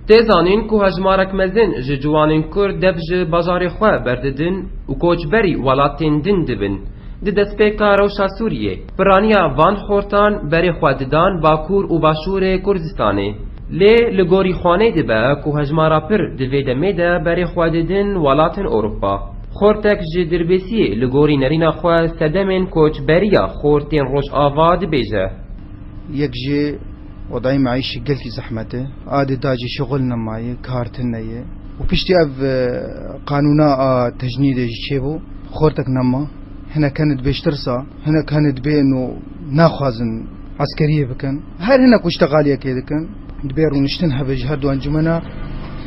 Tê zanîn ku hejmarek mezin ji ciwanên Kurd dev ji bajarê xwe berdidin û koçberî welatên din dibin. Di destpêka rewşa Sûriyê Pirraniya van xortan berê xwe didan Bakur û Başûrê Kurdistanê. Lê li gorî Xaney dibe ku hejmara pir di vê demê de berê xwe didin welatên Ewropa. Xortek ji Dirbêsiyê li gorî nerîna xwe sedemên koçberiya xortên Rojava dibêje. Yek jî wedayî meîşî gelkî zehmet e. Adê da jî şixul nema ye, kar tine ye û piştî ev qanûna a tejnîdê jî çêbû, xortek nema. Hinek hene dibê ji tirsa, hinek hene dibê no naxwazin eskeriyê bikin. Her hinek ku îştegaliyekê dikin dibê rûniştin hebe ji her du encûmena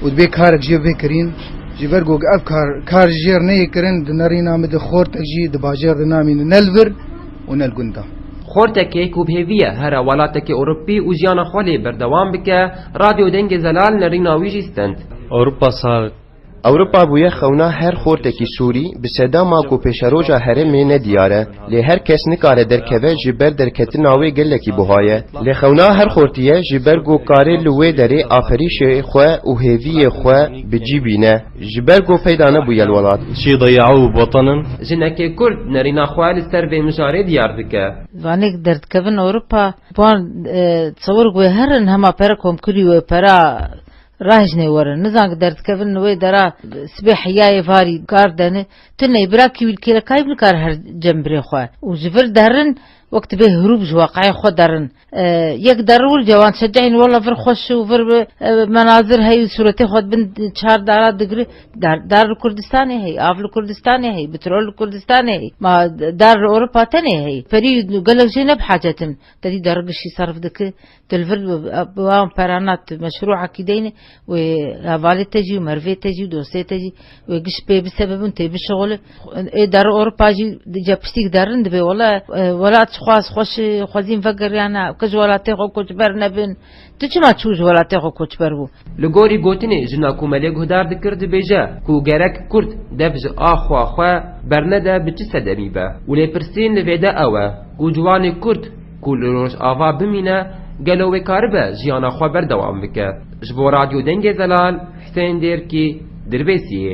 û dibê karek jê bibe kirîn. Ji ber ku ev kar kar ji jêr neyê kirin di nerîna min de xortek jî di bajêr de namîne ne li vir û ne li gund de. Xortekê ku bi hêvî ye here welatekê Ewropî û jiyana xwe lê berdewam bike, Radyo Dengê Zelal nerîna wî jî stend. Ewropa sar Ewropa bûye xewna her xortekî Sûrî, bi sedama ku pêşeroja herêmê ne diyar e, lê her kes nikare derkeve ji ber derketina wê gelekî buha ye. Lê xewna her xortiye ji ber ku karê li wê derê aferîşê xwe û hêviyê xwe bi cî bîne, ji ber ku peyda nebûye li welat. Çî dayî'u bwatanin. Jinekê Kurd nerîna xwe li ser vê mijarê diyar dike. Vanêk derdikevin Ewropa, wan tsewir ku wê herin hema pere komkirî û pera Rajne werin, nizan ki derdikevin li wê dera sibê heyayê varî kar dene, tu ney bira kîwîlkêrekayî bi nikare her cem birê xwe û ji vir derin wek tu bê hirûb ji weqayê xwe derin yek derin wir cewan şecehîn walla vir xweş û vir menazir hey û sûretê xwe di bin çar dara digri dar dar li Kurdistanê hey av li Kurdistanê hey bitrol li Kurdistanê hey ma dar li Ewropa tenê hey perî gelek jê ne bi hacetin te dî derigişî serf diki Dilvir bi wan perana tu meşru aqîdeyne wê hevalê te jî û merivê te jî û dostê te jî wê giş pê bisebibin tê bişixulin. Ê derê Ewropa jî ca piştîk derin dibê wala welat ji xwe ez xweş xwezîn vegiriyane ku ji welatê xwe koçber nebin. Tu çima çû ji welatê xwe koçber bû? Li gorî gotinê jina ku Melê Guhdar dikir dibêje ku gerek kurd dev ji axwa xwe bernede bi çi sedemî be û lêpirsîn li vêde ew e ku ciwanê kurd, Ku li Rojava bimîne, gelo wê karibe jiyana xwe berdewam bike? Ji bo Radyo Dengê Zelal, Husên Dêrkî, Dirbêsiyê.